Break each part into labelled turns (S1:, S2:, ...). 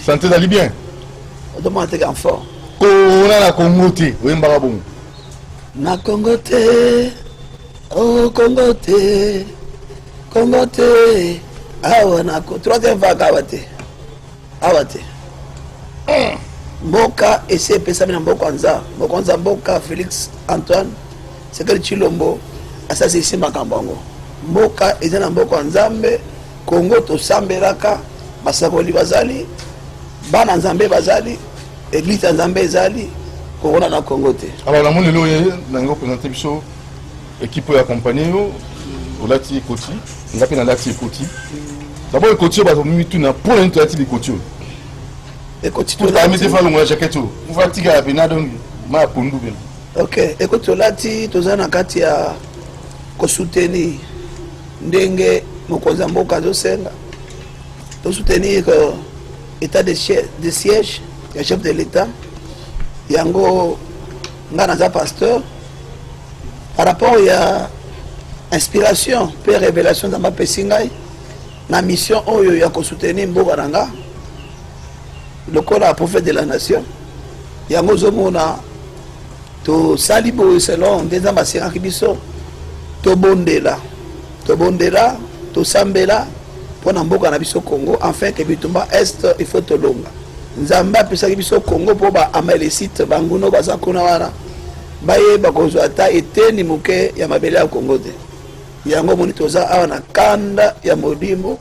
S1: sante ezali bien odomona
S2: teke en fort kona na
S1: kongo te oyembaka bongo na
S2: kongo te o oh, kongo te kongo te awa na troisième vague awa te awa te mboka esi epesami na mboka nza mboka nza mboka félix antoine sekeli chilombo asasilisi makambo yango mboka eza na mboka ya nzambe kongo tosambelaka basakoli bazali bana nzambe bazali eglise ya nzambe ezali kokona na kongo te alors namoni lelo oye
S1: nango présente biso Ekipe oyo akompanye yo olati ekoti, nga mpe nalati ekoti. Dabord ekoti oyo bato mituna mpo na nini tolati likoti oyo
S2: ekoti tolamisi
S1: falongola jacket oyo mpo atikala pena donc ma ya pondu pena ok
S2: ekoti tolati toza na kati ya kosoutenir ndenge mokonzi ya mboka azosenga tosoutenir euh, état de siège ya chef de l'état yango nga naza pasteur par rapport ya inspiration mpe révélation nzambe apesi ngai na mission oyo ya kosoutenir mboka na nga lokola prophète de la nation yango ozomona tosali boye selon nde nzambe asengaki biso tobondela Tobondela, tosambela mpo na mboka na biso Congo, enfin que bitumba est il faut tolonga. Nzambe apesaki biso Congo mpo ba amalesite banguno baza kuna wana bayeba kozwa ata eteni moke ya mabele ya Congo te. Yango moni toza awa na kanda ya molimo,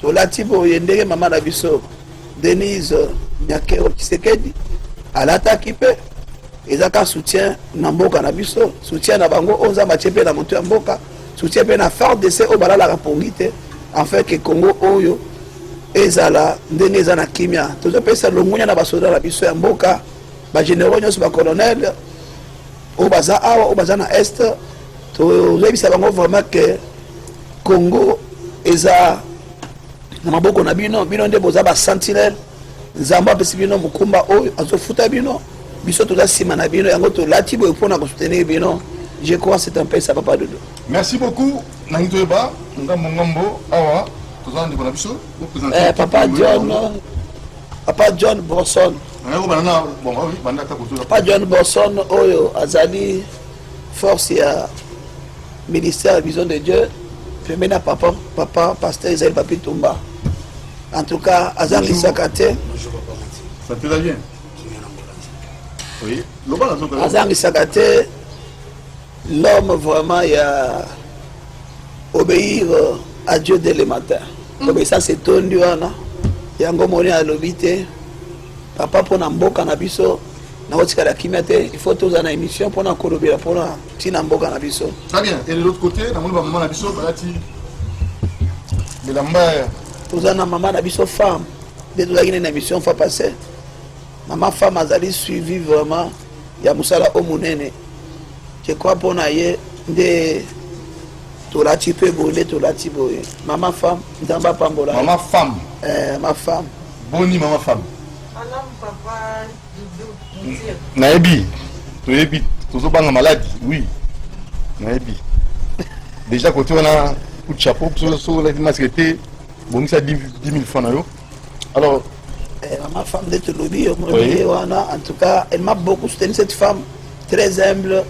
S2: tolati boye ndenge mama na biso Denise Nyakero Kisekedi alataki mpe eza ka soutien na mboka na biso soutien na bango oyo nzambe atie mpe na moto ya mboka soutien mpe na fardc oyo balalaka pongi te enfin ke congo oyo ezala ndenge eza na kimia tozopesa longonya na basoda na biso ya mboka bageneraux nyonso bacolonel oyo baza awa oyo baza na est toyebisa bango vraiment ke congo eza na maboko na bino bino nde boza ba sentinelle nzambe apesi bino mokumba oyo azofuta bino biso toza nsima na bino yango tolati boye mpona kosoutenir bino je crois c'est un pesa papa dodo merci beaucoup
S1: nangi toyeba ngambo ngambo awa toza na ndeko na biso eh, papa
S2: john papa john borson papa john borson oyo azali force ya ministère ya vision de dieu premier na papa papa pasteur ezali papi tumba en tout cas azangisaka te
S1: azangisaka
S2: te l'homme vraiment ya obéir euh, à dieu dès le matin obéissance etondi wana yango moni alobi te papa mpo na mboka na biso nakotikala kimia te il faut tozala na émission mpona kolobela mpona ntina mboka na biso très bien et de l'autre côté
S1: namoni bamama na biso balati bilamba toza na mama
S2: na biso femme nde tozalaki nde na émission fois passé mama femme azali suivi vraiment ya mosala o monene je crois mpo na ye nde tolati mpe boye nde tolati boye mama femme nzambe apambola mama femme
S1: eh, ma femme
S2: Boni mama
S1: femme. Malamu
S3: papa Doudou. Nayebi.
S1: Toyebi tozobanga maladi. Oui. Nayebi. Déjà côté on a coup de chapeau so so la masque te bongisa 10 000 francs na yo. Alors eh, ma
S2: femme de Tolobi, oui. en tout cas, elle m'a beaucoup soutenu cette femme très humble.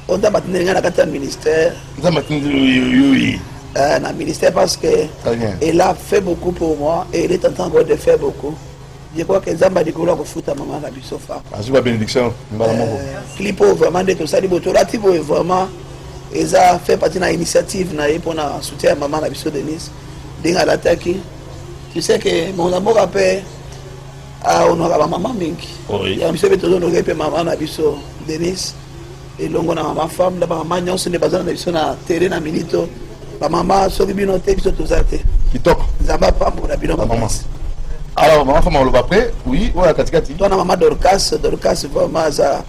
S2: o nzambe atindeli ngai na kati ya ministère nzambe atindeli euh, na ministère parce que elle a fait beaucoup pour moi et elle est en train encore de faire beaucoup je crois que nzambe alikolo akofuta mama na biso fa azwi babénédiction
S1: mbala moko euh, clip
S2: oyo vraiment nde tosali bo tolati boye vraiment eza fait partie na initiative na ye mpona soutien ya mama na biso denise ndenge alataki tu sais que mona mboka mpe aonora ah, bamama mingi yango biso mpe tozonoke mpe mama na biso denise elongo na mama femme na bamama nyonso nde bazala na biso na tere na minito bamama soki bino te biso toza te kitoko nzambe
S1: apambola
S2: bino bamamasi alors mama
S1: femme oloba après oui oyo ya katikati to na mama dorcas
S2: dorcas vraiment aza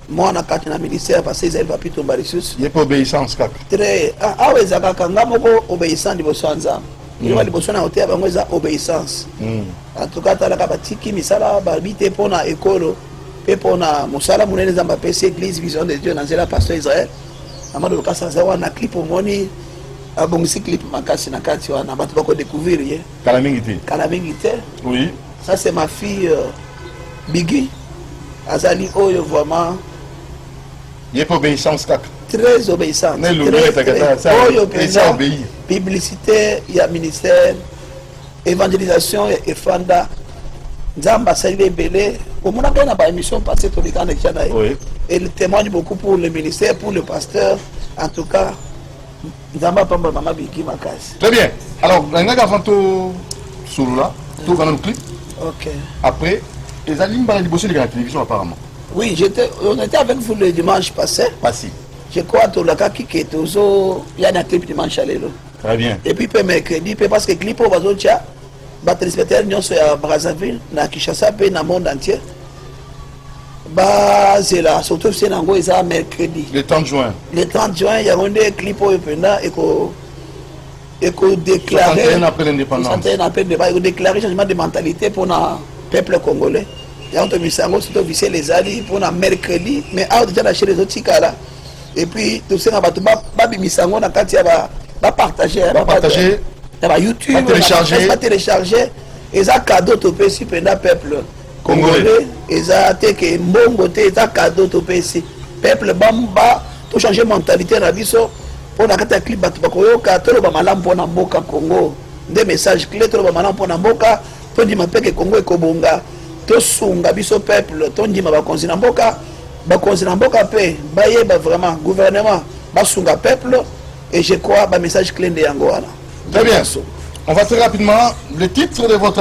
S2: mwana kati na ministère parce ezali bapitomba lisusu ye mpe obéissance
S1: kaka très ah, awa
S2: ezalaka nga moko obéissant liboso ya nzambe Eloko ya liboso na koteya bango eza obeissance. Mm. En tout cas talaka batiki misala babi te mpo na ekolo mpe mpo na mosala monene Nzambe apesi Eglise Vision de Dieu na nzela Pasteur Israël. Amado Lukasa aza wana clip omoni abongisi clip makasi na kati wana bato bako découvrir ye. Kala mingi te. Kala
S1: mingi te.
S2: Oui. Ça
S1: c'est ma fille
S2: euh, Biggie. Azali oyo vraiment
S1: Ye pe obeissance kaka. Très obeissante.
S2: Ne lobi takata
S1: ça.
S2: Oyo
S1: penza obéi. Publicité
S2: ya ministère evangelisation ya efanda nzambe asali ebele omona ngai na baémission passé tolekana ekya na ye elle témoigne beaucoup pour le ministère pour le pasteur en tout cas nzambe apambola mama biki makasi très bien alors
S1: nalingaki avant to solola toyoka nanu clip ok
S2: après
S1: ezali mbala liboso eleka na télévision apparemment oui j'étais
S2: on était avec vous le dimanche passé passé je
S1: crois tolakaki
S2: ke tozo ya na clip dimanche ya lelo très bien et puis mpe
S1: mercredi
S2: mpe parce que clip oyo bazotya batelespectateur nyonso ya brazzaville na kinshasa mpe na monde entier bazela surtout fse na yango eza mercredi le 30 juin
S1: le 30 juin yango
S2: nde clip oyo mpenza eko ekodéclare ekodéclare changement de mentalité mpona peuple congolais yango tobimisa yango soki officiel ezali mpona mercredi mais awa deja na chere ezotikala epuis tosenga bato babimisa yango na kati ya bapartage
S1: ya bayoutube batelecharge
S2: eza cadeau topesi mpenza peuple congolais eza te ke mbongo te eza cadeau topesi peuple bamba to changer mentalité na biso mpo na kati ya clip bato bakoyoka toloba malamu mpo na mboka congo nde message clé toloba malamu mpo na mboka tondima mpe ke congo ekobonga tosunga biso peuple tondima bakonzi na mboka bakonzi na mboka mpe bayeba vraiment gouvernement basunga peuple et je crois bamessage clé nde yango wana très bien
S1: on va très rapidement le titre de votre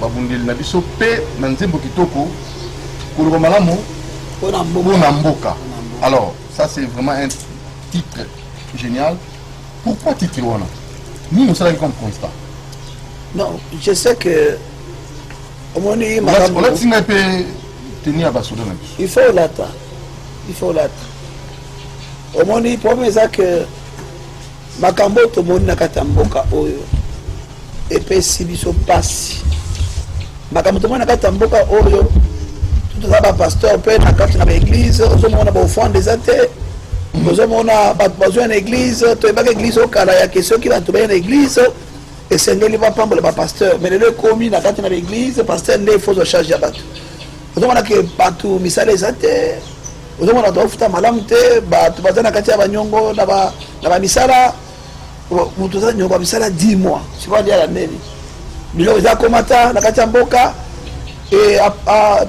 S1: babundeli na biso mpe na nzembo kitoko koloba malamu mpo na mboka alors ça c'est vraiment un titre génial pourquoi titre wana nini osalaki comme constat
S2: non je sais que
S1: omoni olati ngai mpe teni ya basoda na biso il faut olata
S2: il faut olata omoni problème eza que Makambo oyo tomoni na kati ya mboka oyo epesi biso mpasi. Makambo tomoni na kati ya mboka oyo toza bapasteur mpe na kati na baeglize ozomona baofrande eza te ozomona bato bazwa na eglize toyebaka eglize okala yake soki bato baye na eglize esengeli bapambola bapasteur mai lelo ekomi na kati na baeglize pasteur nde ifo ozwa charge ya bato ozomona ke bato misala eza te ozomona bato bafuta malamu te bato baza na kati ya banyongo na bamisala moto aza nyongo ya misala 10 mois sipadiala neni biloko eza komata na kati ya mboka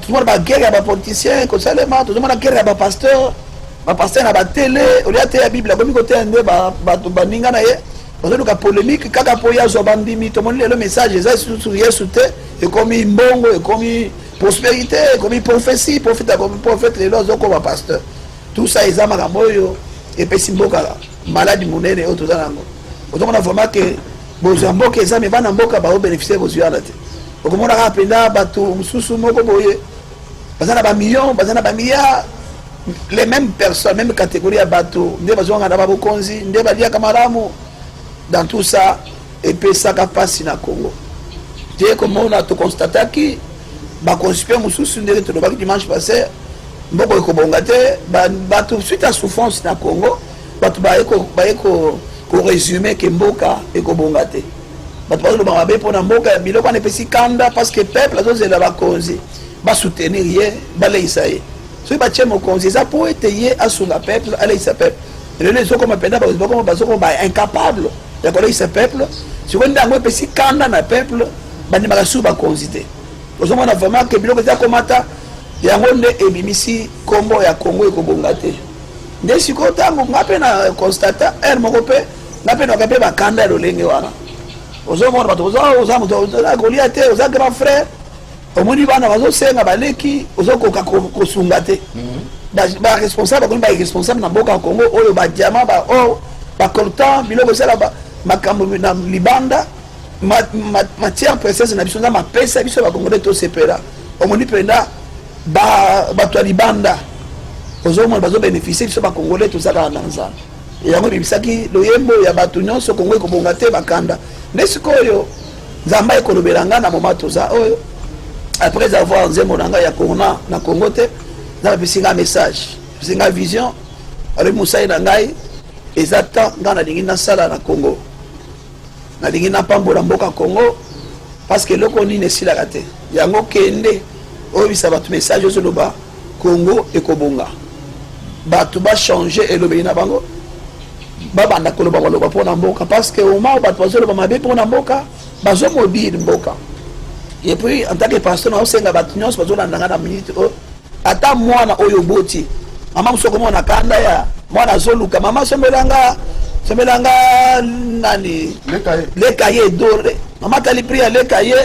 S2: tozomona bagere ya bapoliticien ekosalema tozomona gere ya bapasteur bapasteur na batele olie ateya bible akomi koteya nde bato baninga na ye bazoluka polemique kaka mpo ye azwa bandimi tomoni lelo message eza lisusu yesu te ekomi mbongo ekomi Prosperite ekomi prophetie, prophète akomi prophète, lelo azokoma pasteur. Tout ça eza makambo oyo epesi mboka maladi monene oyo toza nango. Ozomona vraiment ke bozwi ya mboka eza me bana mboka baobenefisie bozwi wana te. Okomona kaka mpenza bato mosusu moko boye baza na bamillion, baza na bamilliard, les mêmes personnes, même catégorie ya bato nde bazongaka na babokonzi, nde baliaka malamu dans tout ça epesaka mpasi na congo te komona toconstataki baconsipe mosusu ndenge tolobaki dimanche passé mboko ekobonga te bato suite ya souffrance na congo bato baye koresume ke mboka ekobonga te bato bazoloba mabe mpo na mboka ya biloko wana epesi kanda parce que peuple azozela bakonzi basoutenir ye baleisa ye soki batie mokonzi eza mpo ete ye asunga peuple aleisa peuple lelo ezokoma mpenza bazokoma ba incapable ya koleisa peuple sikoyo nde yango epesi kanda na peuple bandimaka susu bakonzi te ozomona vraiment ke biloko eza komata yango nde ebimisi nkombo ya kongo ekobonga te nde sikoyo ntango nga mpe na constata heure moko mpe nga mpe naka mpe bakanda ya lolenge wana ozomona bato oza moto oza kolia te oza grand frère omoni bana bazosenga baleki ozokoka kosunga te mhm. baresponsable bakomi baresponsable na mboka ya congo oyo badiama baor bacoltan biloko esala makambo na libanda matière précieuse na biso nzambe apesa biso bakongole tosepela omoni mpenza bato ya libanda ozomona bazobénéficie biso bakongole tozalaka na nzambe yango ebibisaki loyembo ya bato nyonso kongo ekobonga te bakanda nde sikoyo nzambe aye kolobela ngai na moma toza oyo après avoir nzembo na ngai ya corona na congo te nzambe apesi ngai message apesi ngai vision alobi mosali na ngai eza temps ngai nalingi nasala na congo nalingi napambola mboka congo parce que eloko nini esilaka te yango kende Oyebisa bato message ozoloba Congo ekobonga. Bato ba changer elobeli na bango. Babanda koloba baloba mpo na mboka parce que au moment bato bazoloba mabe mpo na mboka bazo mobile mboka. Et puis en tant que pasteur na osenga bato nyonso bazolanda nga na minute oyo ata mwana oyo oboti mama mosusu okomona kanda ya mwana azoluka mama sombelanga sombelanga nani leka ye dore mama tali pri ya leka ye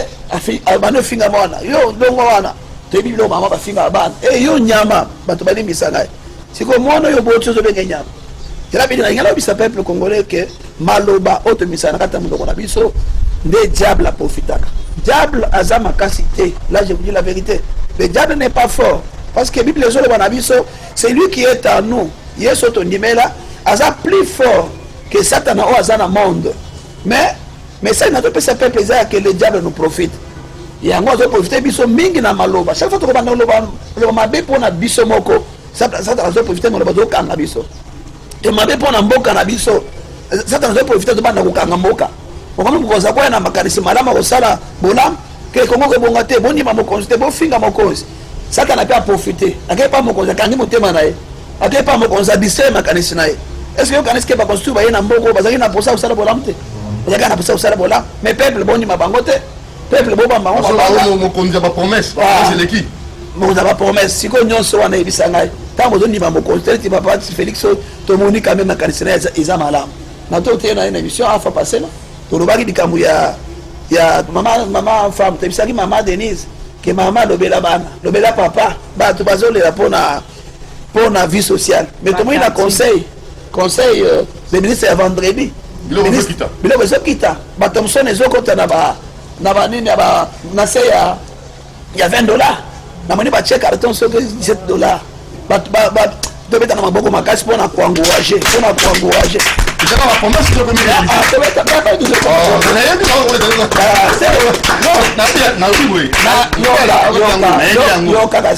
S2: abandi ofinga mwana yo ndongo wana toyebi bino mama bafingaka bana e yo nyama bato balimbisa ngai sikoyo mwana oyo oboti ozobenge nyama elabidi nalingi nayebisa peuple congolais ke maloba oyo tomisaka na kati ya monoko na biso nde diable aprofitaka diable aza makasi te là je vous dis la vérité le diable n'est pas fort parce que bible ezoloba na biso c'est lui qui est en nous yesu tondimela aza plus fort que satana oyo aza na monde mais message nazo pesa peuple eza que le diable nous profite yango azo profiter biso mingi na maloba chaque fois tokobanda loba loba mabe pona biso moko satan azo profiter maloba zo kanga biso te mabe pona mboka na biso satan azo profiter zo banda kokanga mboka okomi kokoza koya na makanisi malamu akosala bolamu ke kongo kobonga te bondima mokonzi te bofinga mokonzi satana mpe aprofite akei mpa mokonzi akangi motema na ye ake epa mokonzi abisee makanisi na ye eske okanisi ke bakonstitue baye na mboko bazalaki na posa kosala bolamu te bazalaki na posa kosala bolamu mais peuple bondima bango te peuple bobamba bango babangamokonzi ya bapromese
S1: eleki mokonzi ya
S2: bapromese sikoyo nyonso wana eyebisa ngai ntango ozondima mokonzi teleti papa félix oyo tomoni kame makanisi na ye eza malamu na to oteyo na ye na émission afa passe na tolobaki likambo ya ya mama mama femme tebisaki mama denise ke mama lobela bana lobela papa bato bazolela mpo na mpo na vie sociale mais tomoni na conseil conseil euh, le ministre ya vendredi biloko ezokita bato mosusu na ezokota na ba na banini na se ya ya 20 dollar namoni batie carton soki 17 dollar tobeta na maboko makasi mpo na koangourage mpo na koangourage
S1: yokaka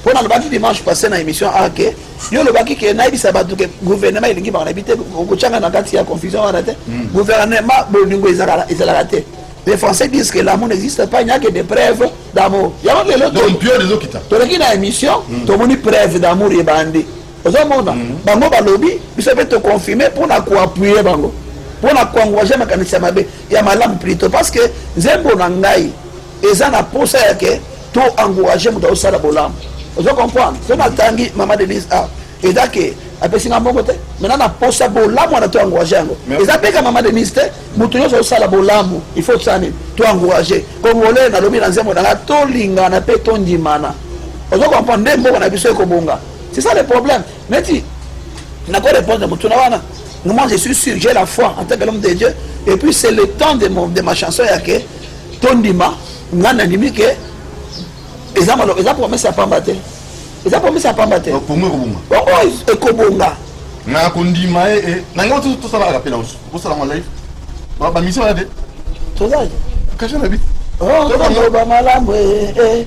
S2: mpo nalobaki dimanche passé na émission a ke yo olobaki ke nayebisa bato ke gouvernement elingi makambo na bi te okotyanga na kati ya confusion wana te hmm. gouvernement bolingo ezalaka te les français disent que l'amour n'existe pas il n'y a que des preuves d'amour yango lelo
S1: toleki na émission
S2: hmm. tomoni preuve d'amour ebandi ozomona hmm. bango balobi biso mpe toconfirme mpo na koappuye bango mpo na koencourage makanisi ya mabe ya malamu plutôt parce que nzembo na ngai eza na posa ya ke to encourager moto azosala bolamu ozo comprendre so natangi mama denise a eza ke apesi nga mbongo te maintenant na posa bolamu wana to encourager yango eza mpe ka mama denise te moto nyonso azosala bolamu il faut tosala nini to encourager congolais nalobi na nzembo nanga tolingana mpe tondimana ozo comprendre nde mboka na biso ekobonga c'est ça le problème neti nako répondre na motuna wana moi je suis sûr j'ai la foi en tant que l'homme de dieu et puis c'est le temps de, mon, de ma chanson ya ke tondima nga nandimi ke eza maloba eza promese ya pamba te eza promese ya pamba te pongo ekobonga oh,
S1: oh, ekobonga
S2: na kondima
S1: ye eh, eh. na ngai tosala rapela mosusu osala mwa live bamisio wana te tozali
S2: kasha na bi
S1: oh, toloba
S2: malamu eh,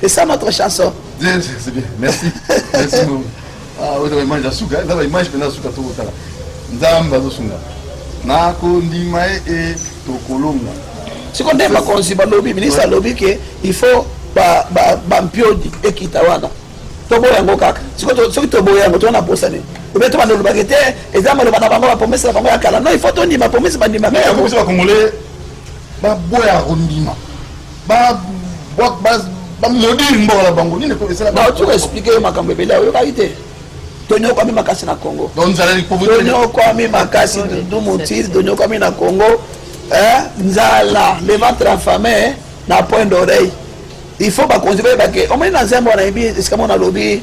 S2: C'est ça notre chanson. C'est bien, merci.
S1: merci beaucoup. Ah, oui, la image, la souka, hein. la image, la souka, tout ça. Nzamba, la souka. Na kondima e e tokolonga. Si konde
S2: ma konsi ba lobby, ministre lobby que il faut ba ba ba mpiodi ekita wana. Toboya yango kaka. Siko to soki toboya yango tona posa nini? Obe to bando lobaki te, eza maloba na bango ba promesse na bango ya kala. Non, il faut tondima promesse bandima. Mais ya promesse ba congolais
S1: ba boya kondima. bamodiri mboka na bango nini ekoesalatu explike yo
S2: makambo ebele oyokaki te tonyokwami makasi na congo tonyokwami makasi dudu motiri tonyokwami na congo eh, nzala le ventre affame na point d'oreille il faut bakonzi bayebake omoni na nzembo wana yebi esika mona alobi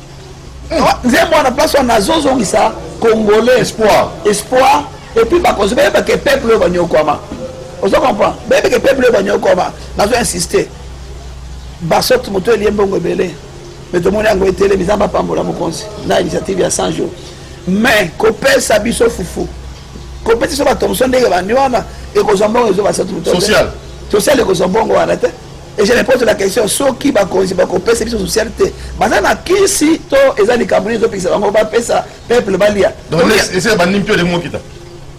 S2: nzembo wana place wana azozongisa congolais espoir espoir epuis bakonzi bayeba ke peuple oyo banyokwama ozo comprendre bayebi ke peuple oyo banyokwama nazo insiste basote moto elie mbongo ebele me tomoni yango etelemi nzambe apambola mokonzi na initiative ya 100 jours mais kopesa biso fufu kopesa biso batomso ndenge bandi wana ekozwa mbongo ezo basatu moto social ekozwa mbongo wana te Et je repose la question soki bakonzi bakopesa biso social te baza na kisi to eza likambo nini ezopekisa bango bapesa peuple balia ese bandi
S1: mpio ndenge mokita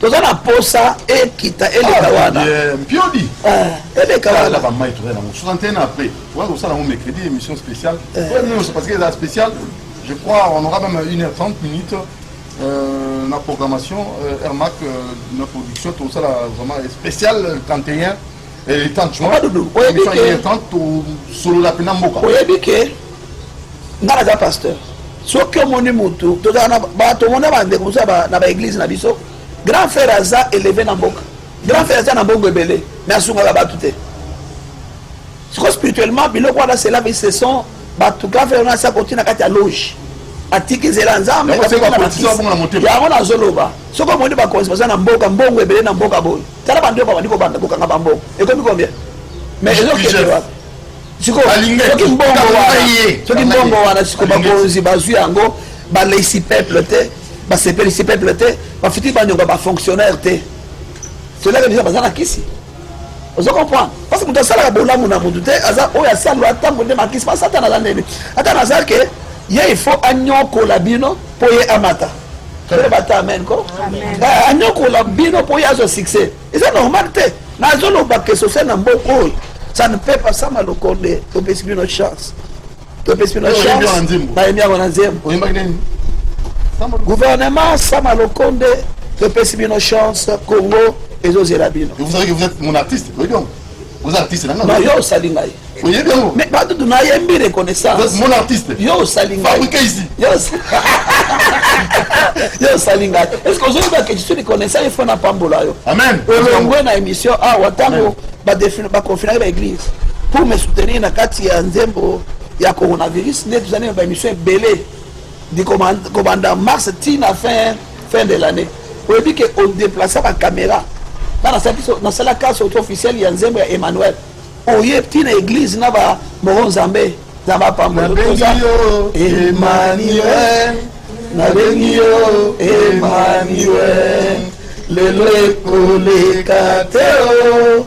S1: toza na posa
S2: ekita eleka ah, wana mpiodi
S1: eh, eleka
S2: wana bamai toza
S1: nango 61 après oza kosala yango mercredi émission spéciale eh. nyonso parce que eza spéciale je crois on aura même 1h30 minutes euh, na programmation euh, airmac euh, na production tosala vraiment spéciale 31 tosolola mpena mboka oyebi ke
S2: nga naza pasteur soki omoni motu tomona bandeko mosusu na baeglise na biso grand frère aza eleve na mboka grand frère aza na mbongo ebele mais asungaka bato te siko spirituellement biloko wana cela veut ce sont bato grand frère wana asi akoti na kati ya loge atiki nzela ya nzambe
S1: yango nazoloba
S2: soki omoni bakonzi baza na mboka mbongo ebele na mboka boye tala bandi oyo babandi kobanda kokanga bambongo ekomi combien mais ezokende wapi sikosoki mbongo wana soki mbongo wana siko bakonzi bazwi yango baleisi peuple te basepelisi peuple te bafiti banyonga bafonctionnaire te selaka biso baza na kisi ozo comprendre parce que moto asalaka bolamu na motu te aza oyo asalwa ntango nde makisi masatana aza ndeni ata naza ke ye il faut anyokola bino mpo ye amata toyeba bata amen ko eh, anyokola bino mpo ye azwa succès eza normal te nazoloba ke social na mboka oyo ça ne peut pas sama lokonde topesi bino chance topesi bino chance bayembi yango na nzembo gouvernement sama lokonde topesi bino chance congo ezozela bino
S1: oza artiste na ngai yo osali ngai
S2: oyebi yango mais
S1: bato tuna yembi
S2: reconnaissance mon artiste
S1: yo osali ngai fabriqué
S2: ici yo osali ngai est ce que ozoyeba que je suis reconnaissant il faut na pambola yo amen olongwe na
S1: émission
S2: awa ntango baconfinaki ba église pour me soutenir na kati ya nzembo ya coronavirus nde tozali na baémission ebele kobanda mars ti na fin fin de l'année oyebi ke odeplace bacamera nga nasala kase auto officiel ya nzembo ya emmanuel oye ti na église na bamoro nzambe nzambe apambonabengi
S1: yo emmanuel nabengi yo emmanuel lelo ekoleka
S2: te o oh.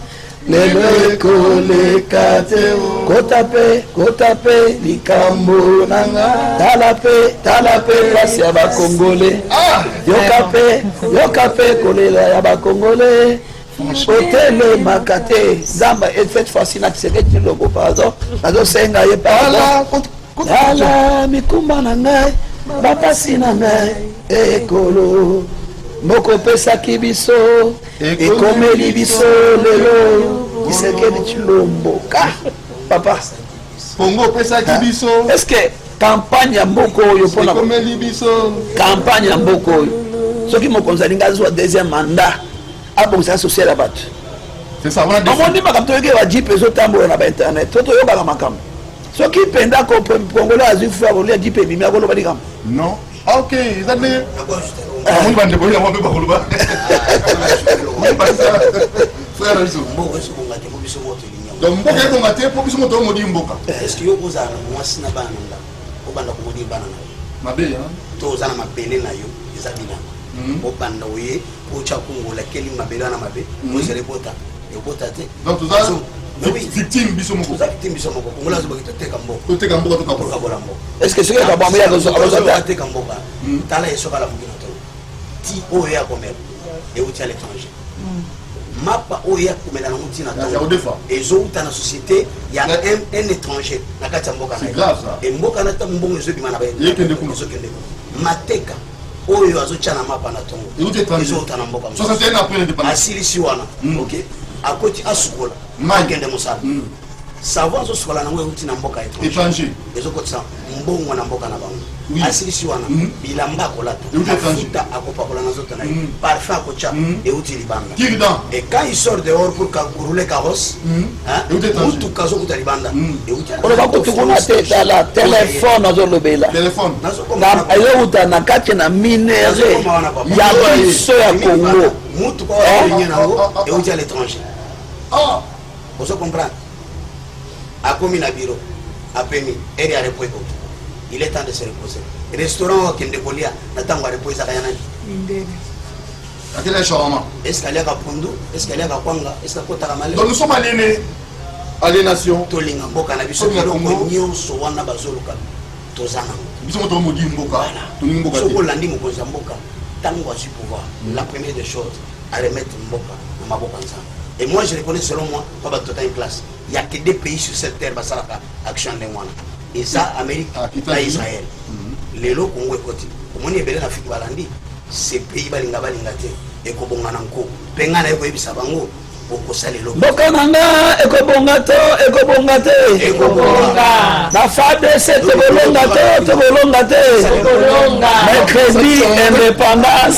S2: lelo ekoleka te kota mpe kota mpe likambo na nga tala mpe tala mpe mpasi ya bakongole ah! yoka mpe yoka mpe kolela ya bakongole otelemaka te zamba et cette fois-ci na kiseketi tshilombo pardon nazosenga ye pardon tala mikumba na ngai bapasi na ngai ekolo moko opesaki biso ekomeli biso lelo kisekedi chilombo ka papa kongo
S1: opesaki biso est ce que
S2: kampagne ya mboka oyo mpona ekomeli biso
S1: kampagne ya mboka
S2: oyo soki mokonzi alingi azwa deuxième mandat abongisa social ya bato
S1: omoni makambo toyoki ya
S2: bajipe ezotambola na bainternet to toyokaka makambo soki mpenza congolais azwi fo akolia jipe ebimi akoloba likambo Ah, ok
S1: eza nde omoni bandeko ye yango mpe bakoloba frère na
S4: biso donc
S1: mboka
S4: ebonga
S1: te
S4: mpo biso
S1: moto
S4: oyo modi
S1: mboka mabe
S4: to
S1: oza na
S4: mabele na yo eza bilanga obanda oye Ocha Kungu la keli mabele wana mabe mhm. ozali bota yobota te donc toza
S1: victime biso moko toza victime biso moko kongola
S4: azobaki toteka mboka toteka mboka tokabola
S1: mboka est ce que soki
S4: akabwami
S2: akozateka mboka
S4: mhm. tala ye soki alamuki na to ti oyo ye akomela euti à l'étranger mhm. mapa oyo ye akomela nango ntina to ezouta na société ya un étranger na kati ya mboka na ye mboka na ntango mbongo ezobima na baekende kuna
S1: mateka
S4: oyo azotia na mapa na tongo ezouta na mboka
S1: asilisi wana mm.
S4: ok akoti asukola akende mosala mm. savo azosukola nango euti na mboka étranger ezokotisa mbongo na mboka na bango asilisi wana mm. bilamba akolata afuta akopakola na zoto na ye parfum akotia euti libanga et quand il sort dehors pour rouler carrosse motuka azokuta libanda oloba kutu
S2: kuna te tala telefone azolobela ezowuta na kati na minere ya biso ya congo motuka oyo na
S4: yango euti à l'étranger ozo comprendre akomi na biro apemi ere ya repo ekoki il est temps de se reposer restaurant oyo akende kolia na ntango ya repo ezaka ya nani
S3: akela
S1: shawarma est ce aliaka pundu
S4: est ce aliaka kwanga est ce akotaka male donc nous sommes aliénés
S1: aliénation tolinga mboka
S4: na biso biloko nyonso wana bazoluka toza nango biso moto modi
S1: mboka tolingi mboka soki olandi mokonzi ya
S4: mboka ntango azwi pouvoir mm. la première des choses aremettre mboka na maboko ya nzambe et moi je reconnais selon moi mpo bato tota une classe il y a que deux pays sur cette terre basalaka action ndenge wana eza ah, amerique ah, na israel mhm. lelo kongo ekoti omoni ebele na afrike balandi cpi balinga balinga te ekobonga na nko mpe ngai naye koyebisa bango okosala eloko mboka na nga
S2: ekobonga to ekobonga te
S3: na fadc
S2: tokolonga to tokolonga te mercredi indépendance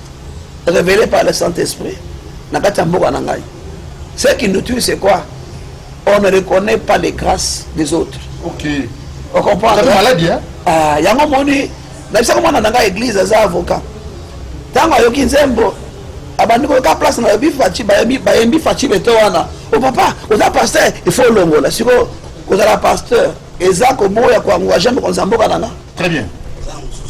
S2: révélé par le Saint-Esprit, Nakata Mboga Nangai. Ce qui nous tue, c'est quoi On ne reconnaît pas les grâces des autres. Ok.
S1: On comprend C'est
S2: maladie, hein
S1: Ah, Yango Moni,
S2: Nabisa Komana Nanga Église, Aza avocat. Tango Ayoki Nzembo, abandi koyoka place na yebi faci bayembi faci beto wana o oh, papa oza pasteur il faut olongola sikoyo kozala pasteur eza koboya koangourage mokonzi ya mboka nanga très bien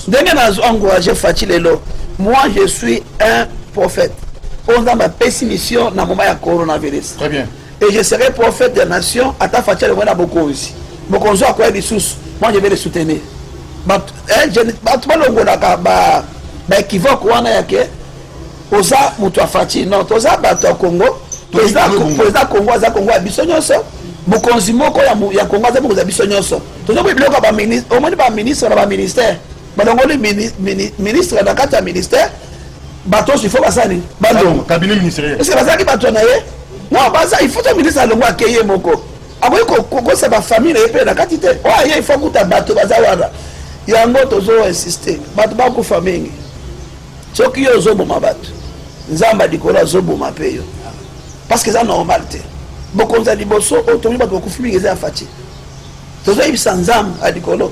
S1: ndenge
S2: nazo encourage faci lelo moi je suis un prophète oyo nzambe apesi mission na moma ya coronavirus très bien et je
S1: serai prophète
S2: ya nation ata faci alongwe na bokonzi bokonzi oyo akoya lisusu moi je vais le soutenir bato eh, balongolaka ba baekivoke wana yake oza moto ya faci non toza bato ya congo président congo aza congo ya biso nyonso mokonzi moko ya congo aza mokonzi ya biso nyonso tozokoki biloko ya baministre omoni baministre na baministère balongoli ministre na kati ya ministère bato oso ifo basala nini balongo cabinet ministériel parce que
S1: bazalaki bato na ye
S2: non baza ifo to ministre alongo ake ye moko akoki kokosa bafamille na ye mpe na kati te oyo aye ifo akuta bato baza wana yango tozo insiste bato bakufa mingi soki yo ozoboma bato nzambe likolo azoboma mpe yo parce que eza normal te bokonzi ya liboso oyo tomi bato bakufi mingi eza ya faci tozoyebisa nzambe ya likolo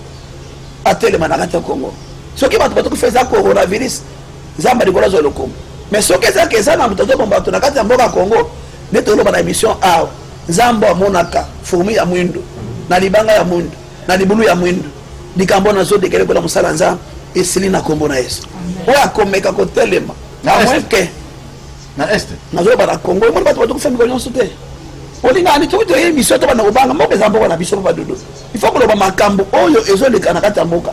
S2: atelema na kati ya kongo soki bato batokufa eza coronavirus nzambe ya likolo azwa lokumu mais soki ezalaki eza na moto azoboma bato na kati ya mboka ya kongo nde toloba na émission awa nzambe amonaka fourmi ya mwindu na libanga ya mwindu na libulu ya mwindu likambo nazodekele kola mosala nzambe esili na nkombo na yesu oyo akomeka kotelema amweke
S1: na est nazoloba na congo omoni
S2: bato batokufa mikolo nyonso te olingaka nitoki toye misio to banda kobanga mboka eza mboka na biso mpo badodo il faut koloba makambo oyo
S1: ezoleka
S2: na kati
S1: ya
S2: mboka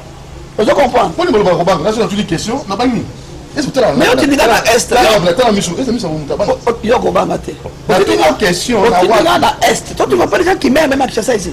S1: ozo
S2: comprendre
S1: mpo
S2: nimoloba
S1: kobanga
S2: nazo
S1: natuli
S2: question
S1: na
S2: bangi mais otindika na est yo kobanga te otindika
S1: na est
S2: totinga mpo deja kimeme na kinshasa esi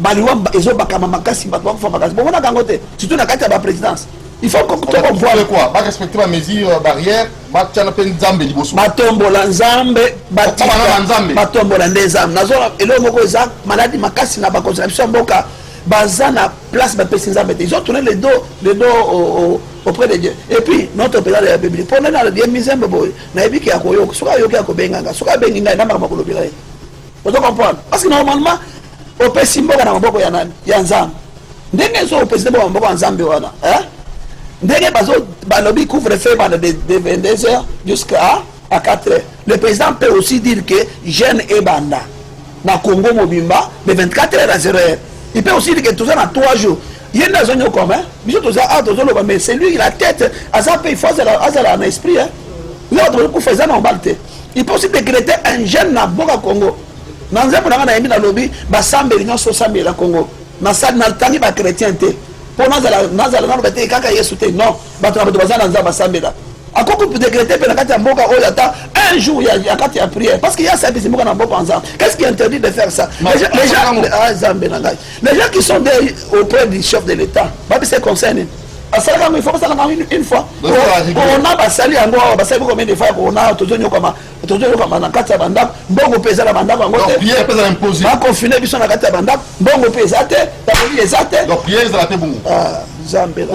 S2: baliwa ezo bakama makasi bato bakufa makasi bomonaka yango te surtout na kati ya baprésidence il faut tokovoile quoi barespecte
S1: bamesure euh, barrière batyana mpe nzambe liboso batombola
S2: nzambe batiknzambe batombola nde nzambe nazo eloko moko eza maladi makasi na bakonzi na biso ya mboka baza na place bapesi nzambe te izotourne le dos le dos auprès de dieu et puis notre président de la république mpo nani ye mizembe boye nayebi ke akoyoka soki ayoki akobenganga soki abengi ngai na makambo akolobela ye ozo comprendre parce que normalement opesi mboka na maboko ya nani ya nzambe ndenge ezo opesi mboka na maboko ya nzambe wana eh? ndenge bazo balobi couvre feu bana de, de 22 heures jusqu'à à 4 heures le président peut aussi dire que jeune ebanda na congo mobimba de 24 heures à 0 heure il peut aussi dire que toza na 3 jours ye nde azo nyokoma eh? biso toza a ah, tozoloba mais celui la tête aza mpe il faut azala na esprit eh? leo tokoki kufa eza normal te il faut aussi décréter un jeune na boka congo na nzembo na ngai nayembi nalobi basambeli nyonso osambela congo nasali natangi bachrétien te mpo nazala nazala nano bete kaka yesu te non bato na bato baza na nzambe basambela akoki kodegrete mpe na kati ya mboka oyo ata un jour ya kati ya prière parce que ya service mboka na mboka ensemble qu'est-ce qui interdit de faire ça les gens ah, zambe na ngai les gens qui sont des auprès du chef de l'état babise conseil nini basali yango ifo basala yango une fois corona basali yango awa basali boko mende fa ya corona tozonyokama tozonyokama na kati ya bandako mbongo mpe eza na bandako yango te bakonfine
S1: biso na kati
S2: ya bandako mbongo mpe eza te taboli eza te ah,
S1: nzambe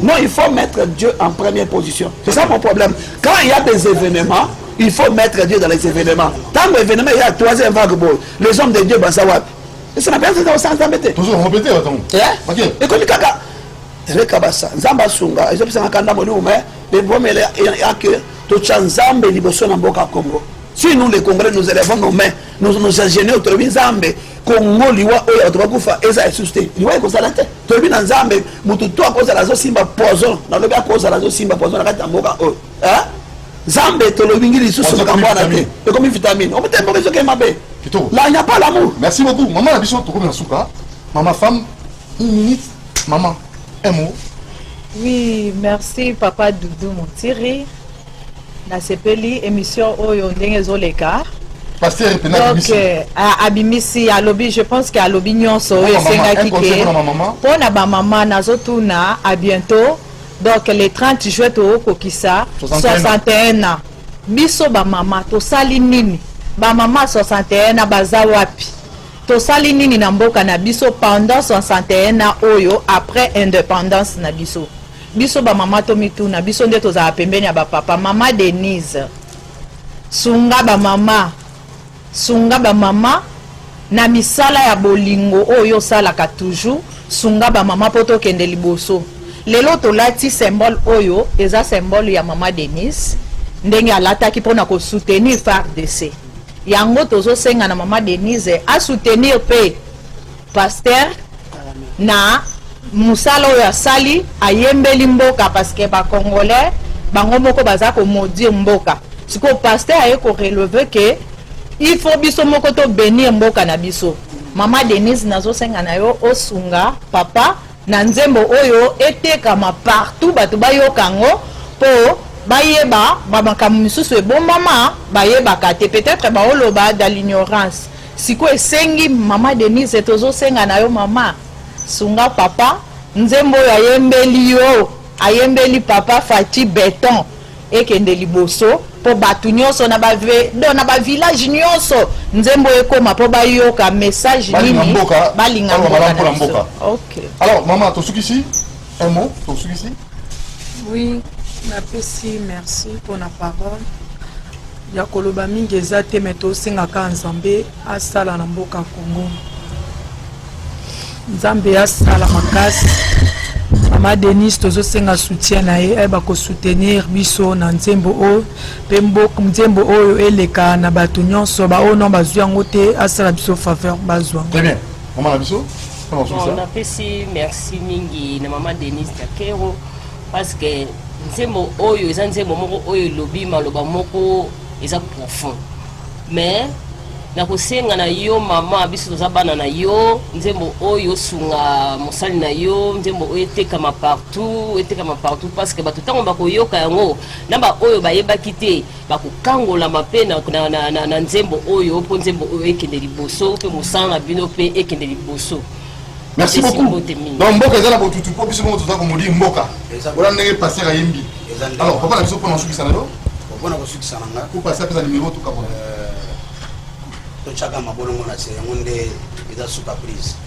S1: non il faut mettre
S2: dieu en première position c'est ça mon problème quand il y a des événements il faut mettre dieu dans les événements ntango événement eya troisième vague boye les hommes de dieu baza wapi ese na penza osala nzambe te tozo yango pete batango eh?
S1: ekomi
S2: kaka reka basa nzambe asunga ezopisanga kanda molimo me ebomele yake totya nzambe liboso na mboka congo si nous les congolais nous élevons nos mains nous nous ingénieurs tolobi nzambe congo liwa oyo bato bakufa eza lisusu te liwa ekozala te tolobi na nzambe motu to akozala azosimba poison nalobi akozala azosimba poison na kati ya mboka oyo eh? zambe tolobingi lisusu makambo wana te ekomi vitamine omotema moko ezoke mabe la nya pas l'amour merci beaucoup mama na biso
S1: tokomi na suka mama femme une minute mama un mot oui
S3: merci papa doudou montiri nasepeli émission oyo ndenge ezoleka pasteur mpe
S1: nabimisi euh,
S3: abimisi alobi je pense que alobi nyonso oyo esengaki ke mpo na bamama nazotuna a bientôt donc le 30 juin tokokisa 61 ans biso bamama tosali nini bamama 61 ans baza wapi tosali nini na mboka na biso pendant 61 ans oyo après indépendance na biso biso bamama tomituna biso nde tozala pembeni ya bapapa mama denise sunga bamama Sunga ba maman na misala ya bolingo oyo yo osalaka toujours sunga ba maman po tokende liboso lelo tolati symbole oyo eza symbole ya maman Denise ndenge alataki pona ko soutenir fardc yango tozo senga na maman Denise a soutenir pe Pasteur na musala oyo asali ayembeli mboka parce que ba congolais bango moko baza ko maudire mboka sikoyo pasteur aye ko relever que il faut biso moko to benir mboka na biso mama denise nazosenga na yo osunga papa na nzembo oyo etekama partout bato bayoka yango mpo bayeba bamakambo misusu ebombama bayebaka te peut-être baoloba da l'ignorance Sikoyo esengi mama Denise tozo senga na yo mama sunga papa nzembo oyo ayembeli yo ayembeli papa Fatshi beton ekende liboso po batu nionso na ba do na ba village nionso nzembo ekoma po bayoka message nini balinga mboka na biso. Okay. Alors mama tosukisi
S1: Un mot pour celui-ci
S5: Oui, napesi merci mpo na parole ya koloba mingi eza te me tosengaka nzambe asala na mboka congo nzambe asala makasi mama denise tozosenga soutien na ye ayeba kosoutenir biso na nzembo oyo mpe nzembo oyo eleka na bato nyonso baoyo non bazwi yango te asala biso faveur bazwa yango
S1: Bon, napesi
S6: merci mingi na mama Denise Takero parce que nzembo oyo eza nzembo moko oyo elobi maloba moko eza profond mais nakosenga na yo mama biso toza bana na yo nzembo oyo osunga mosali na yo nzembo oyo etekama partout etekama partout parce que bato ntango bakoyoka yango na baoyo bayebaki te bakokangolama mpe na, na, na, na, na nzembo oyo mpo nzembo oyo ekende liboso mpe mosala na bino mpe ekende liboso merci
S1: beaucoup donc mboka eza na botutu mpo biso moko toza komodi mboka ola ndenge paster ayembi alors papa na biso mpona kosukisa na yo mpona kosukisa
S4: na nga kupa asi apesa nimero tukabona
S1: euh,
S4: totyaka mabolongo na se yango nde eza suka prise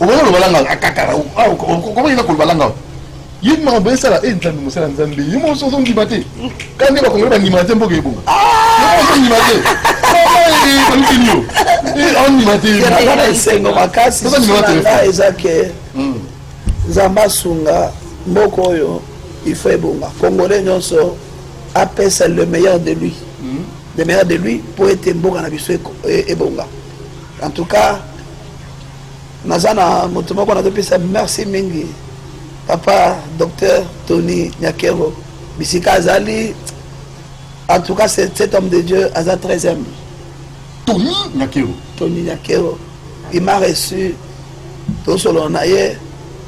S1: okoki koloba langa akatala okoki yeba koloba langa ye makambo esala e nzambe mosala nzambe ye moso ozondima te ka nde bakongoli bandima te mboka ebonga ozondima te balukini yo ondima te na esengo
S2: makasi nga eza ke hmm. nzambe asunga mboka oyo ifo ebonga congolais nyonso apesa le meilleur de lui hmm. le meilleur de lui mpo ete mboka na biso e, ebonga En tout cas, naza na moto moko nazopesa merci mingi papa docteur Tony Nyakero bisika azali en tout cas cet homme de Dieu aza très humble Tony
S1: Nyakero Tony Nyakero
S2: il m'a reçu tosolola na ye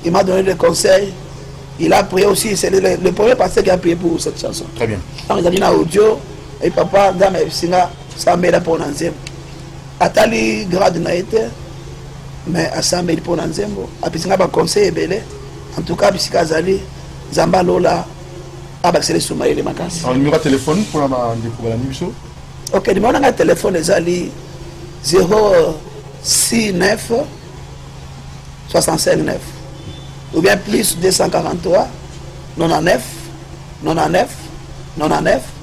S2: il m'a donné des conseils il a prié aussi c'est le, le premier pasteur qui a prié pour cette chanson très bien ntango ezali na
S1: audio
S2: et papa nzambe ayebisinga sambela mpo na nzembo atali grade na ye te mais asambeli mpo na nzembo apesi ngai baconseil ebele en tout cas bisika azali nzambe alola abakisela esu mayele makasi numero ya telefone mpona
S1: bandeko balandi biso ok numero
S2: na ngai telefone ezali 069 659 ou bien plus 243 99 99 99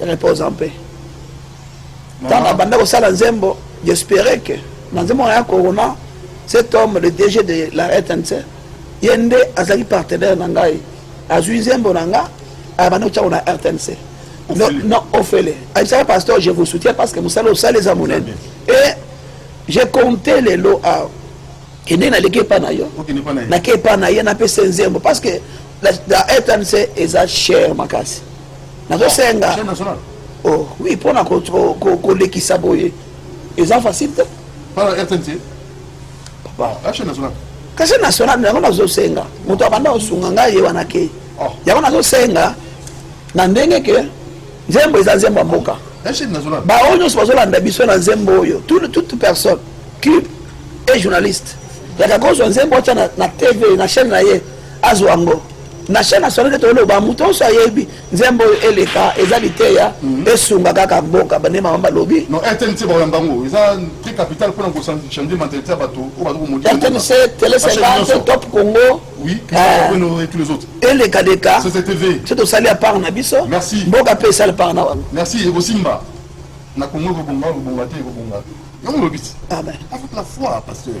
S2: repose en paix ntango abanda kosala nzembo j'espere que na nzembo na ya corona cet homme le dg de la rtnc ye nde azali partenaire na ngai azwi nzembo na nga abanda kotyako na rtnc non ofele ayebisaka pasteur je vous soutien parce que mosala osala eza monene e je compte lelo awa kende naleki epa na yo nake epa na ye napesa nzembo parce que la rtnc eza cher makasi nazosenga oh, oui mpona kolekisa boye eza facile te
S1: kasi national
S2: yango nazosenga moto abanda kosunga ngai ye wana ke oh. yango nazosenga na ndenge ke nzembo eza nzembo ya mboka baoyo
S1: nyonso bazolanda
S2: biso na nzembo oyo toute personne cube et journaliste yaka kozwa nzembo atya na tv na chaîne na ye azwa yango na chaine national nde toloba moto nyonso ayebi nzembo oyo eleka eza liteya mhm. esunga kaka mboka bande mama balobi
S1: rtnc tele 50
S2: top congo eh.
S1: eleka leka
S2: so tosali ya
S1: part na
S2: biso mboka mpe esali
S1: part na
S2: wango na congo ekobonga
S1: ekobonga te ekobonga yango olobisi ah avec la
S2: foi
S1: pasteur